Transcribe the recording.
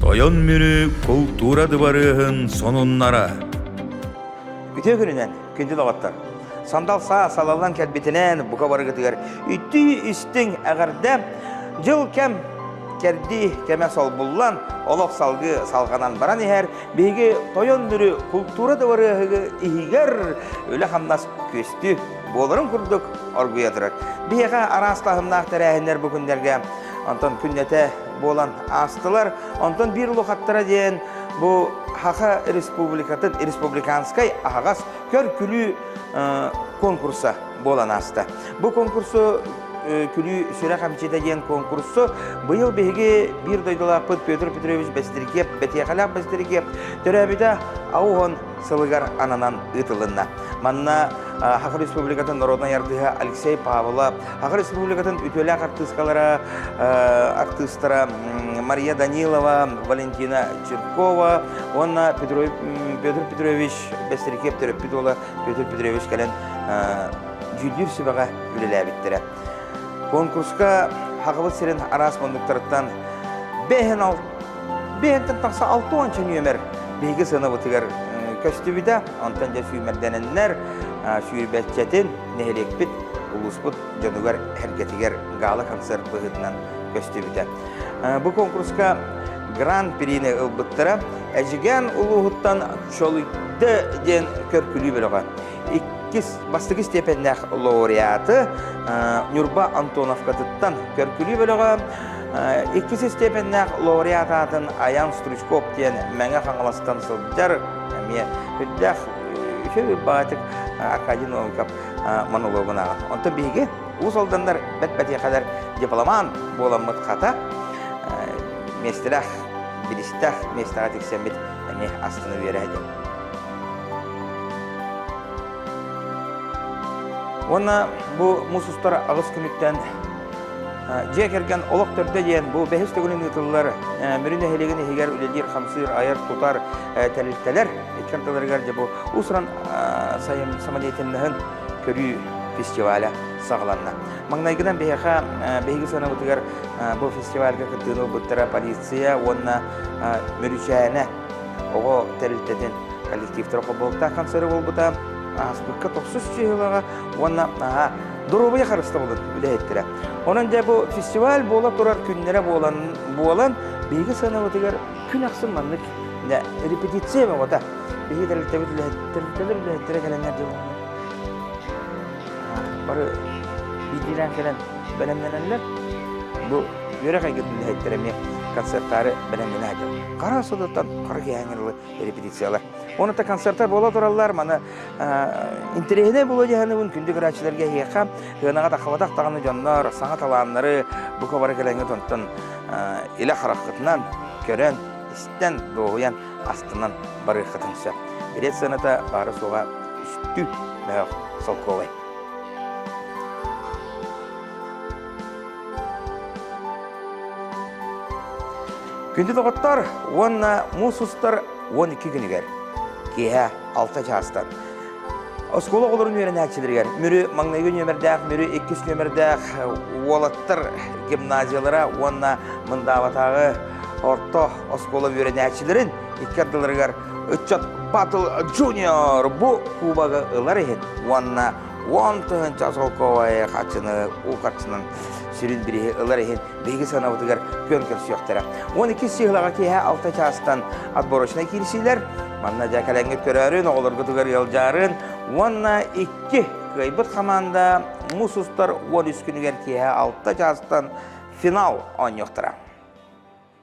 Тойон Мүрү култуура дыбарыаһын сонуннара Үтүө күнүнэн, күндү доҕоттор! Сандал саа салаллан кэлбитинэн бука барыгытыгар үттүү истиҥ эҕэрдэ! Дьыл кэм кэрдии кэмэ солбуллан, олох салгыы салҕанан баран иһэр биһиги Тойон Мүрү култуура дыбарыаһыгы иһигэр үлэ-хамнас күөстүү буоларын курдук оргуйа турар. Биһиэхэ араас таһымнаах тэрээһиннэр бу күннэргэ Онтон күннэтэ буолан аастылар. Онтон биир улахаттара диэн бу Хаха Республикатын республиканскай аһаҕас көр-күлүү конкурса буолан ааста. Бу конкурсу Күлүү сүрэх амчита диэн конкурсу быйыл биһиги биир дойдулаахпыт Петр Петрович Бэстиргиев, Бэтиэхэлээх Бэстиргиев төрөөбүтэ Аухон сылыгар ананан ыытылынна. Манна Хахар Республикатын народнай артыыһа Алексей Павлова, Хахар Республикатын үтүөлээх артыыскалара, артыыстара Мария Данилова, Валентина Чиркова уонна Петр Петрович Бэстирикип төрөппүт уола Петр Петрович кэлэн дьүүллүүр сүбэҕэ үлэлээбиттэрэ. Конкурска Хахабыт сирин араас мунduктарыттан 5 Биһэнтэн тахса алта уонча нүөмэр биһиги сыныбытыгар көстүбүтэ. Онтон дьэ сүүмэрдэнэннэр сүүрбэччэтин нэһилиэкпит, улууспут дьонугар, эргэтигэр гала-концерт быһыытынан көстүбүтэ. Бу конкурска гран-прини ылбыттара Эдьигээн улууһуттан Чолуйда диэн көркүлүү бөлөҕө. Иккис бастакы степеннээх лауреаты Ньурба Антоновкатыттан көркүлүү бөлөҕө Иккис истиэпэннээх лауреат аатын Аян Стручков диэн Мэҥэ Хаҥаластан сылдьар эмиэ үрдээх үһү баатык Аркадий Новиков монологун ааҕар. Онтон биһиги уус алданнар бэт-бэтиэхэлэр дипломант буоламмыт хата миэстэлээх билистээх миэстэҕэ тиксэммит эмиэ астына үөрэһэтим. Уонна бу мус устар аҕыс күнүттэн Дьиэ кэргэн олох төрдө диэн бу бэһис төгүлүн ыытыллар Мүрү нэһилиэгин иһигэр үлэлиир-хамсыыр, айар, тутар тэрилтэлэр икки ардыларыгар дьэ бу уус-уран самодеятельноһын көрүү фестиваля саҕаланна. Маҥнайгынан биһиэхэ биһиги сыанабытыгар бу фестивальга кыттыыны ылбыттара полиция уонна Мүрүчээнэ оҕо тэрилтэтин коллективтара холбоһуктаах концеры буолбута ааспыкка тохсус чыыһылаҕа уонна наһаа доруобуйа харыстабылын үлэһиттэрэ. Онон дьэ бу фестиваль буола турар күннэрэ буолан, буолан биһиги сыанабытыгар күн ахсын маннык репетиция бөҕөтө. Биһиги тэрилтэбит тэрилтэлэр үлэһиттэрэ кэлэннэр дьэ бары биирдиилээн кэлэн бэлэмнэнэллэр. Бу үөрэх эйгэтин үлэһиттэрэ эмиэ концертаары бэлэмнэнэ сылдьар. Хара сылыттан хара киэһээҥҥэ репетициялар. Онута концертар буола тураллар, маны Интэриэһинэй буолуо дьаһаныбын күндү граачыларга эһиэхэ Һыанаҕа тахабатах даҕаны дьоннор саҥа талааннары бука бары кэлэҥҥит онтон илэ хараххытынан көрөн, истэн, дуоһуйан, астынан барыаххытын сөп. Билет сыаната баара-суоҕа үстүү мөөх солкуобай. Күндү доҕоттор уонна муус устар уон икки күнүгэр киэһэ алта чаастан. Оскуола оҕолорун үөрэнээччилэригэр Мүрү маҥнайгы нүөмэрдээх Мүрү иккис нүөмэрдээх уолаттар гимназиялара уонна Мындаабатааҕы орто оскуола үөрэнээччилэрин икки ардыларыгар ыччат Battle Junior бу кубогы ылар иһин уонна уон тыһыынча солкуобай хаччыны уу харчынан сүрүн бириһи ылар иһин биһиги сыанабытыгар күөн көрсүөхтэрэ. Уон иккис сыһылаҕа киэһэ алта чаастан отборочнай киирсиилэр. Манна дьэ кэлэҥҥит көрөөрүн, оҕолоргутугар ыалдьаарын уонна икки кыайбыт хамаанда мус устар уон үс күнүгэр киэһэ алта чаастан финал оонньуохтара.